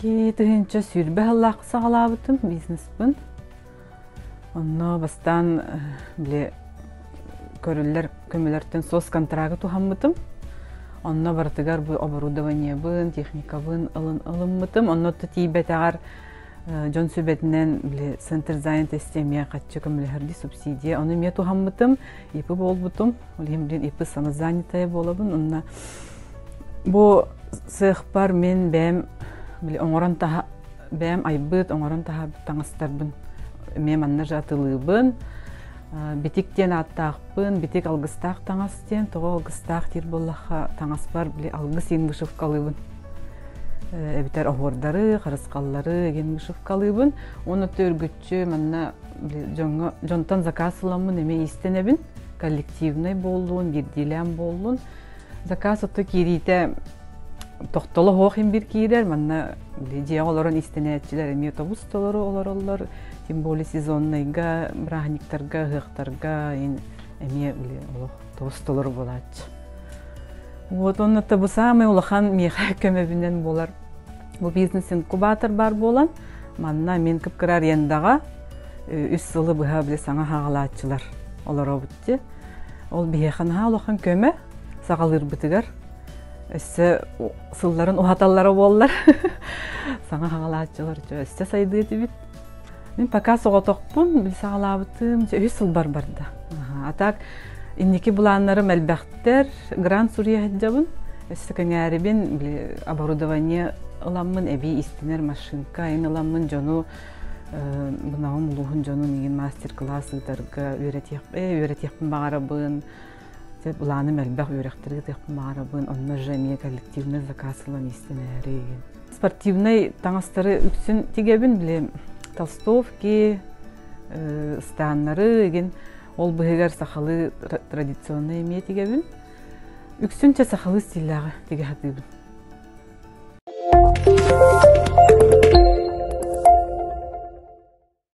тыһынча сүүрбэ сыллаах саҕалаабытым бизнеспын. Онно бастаан э, били көрүллэр көмөлөртөн сос контрагы туһаммытым. Онно барытыгар бу оборудованиебын, техникабын ылын ылыммытым. Онно тиийбэтэҕэр э, дьон сүбэтинэн били центр занятости эмиэ хаччы көмөлөһөрдүү субсидия ону эмиэ туһаммытым. ИПы буолбутум. Ол иһин билин ИПы самозанятая буолабын. Онно бу сыахпар мин бэйэм били оҥорон таһа бэйэм айбыт оҥорон таһаарбыт таҥастарбын эмиэ манна же атылыыбын битик диэн ааттаахпын битик алгыстаах таҥас диэн тоҕо алгыстаах диир буоллахха таҥаспар били алгыс иин вышивкалыыбын эбэтэр оһуордары харысхаллары егин вышивкалыыбын уонна Чэ, манна дьоҥҥо дьонтон заказ ыламмын эмиэ иистэнэбин. Коллективнай буоллун, биирдиилээн буоллун. Заказ отто киириитэ тохтоло оһох им бир киирэр манна дьиэҕэ олорон истэнээччилэр эмиэ тобус-толору олороллор тем более сезоннайга бырааһынньыктарга ыһыахтарга эмиэ олох тобус-толору буолааччы вот онно бу самый улахан миэхэ көмөбүнэн буолар бу бизнес инкубатор бар буолан Манна мин кыпкыра арендаҕа үс сылы быһа били саҥа хаалааччылар олоробут ди. Ол биһиэхэ наһаа улахан көмө саҕалыырбытыгар өссө сылларын уһаталлара буоллар саҥа хаалааччылар өссө сайдыы этибит. Мин пока соҕотохпун саҕалаабытым үс сыл барбарда. А так Инники былааннарым элбэхтэр. Грант суруйаһыддабын, эстекэҥээрибин, оборудование ыламмын, эбии истинэр машинка, ин ыламмын дьону мынаҕым улууһун дьонун иин мастер-класс ыытарга үөрэтиэхпин баҕарабын. Былааным элбэх үөрэхтэри ыытыахпын баҕарабын. Онно же эмиэ коллективный заказ ылан истинээри. Спортивнай таҥастары үксүн тигэбин, били толстовки, ыстааннары, игин Ол быһыгар сахалыы традиционнай эмиэ тигэбин. Үксүнчэ сахалыы стиллээҕи тигэ сатыыбын.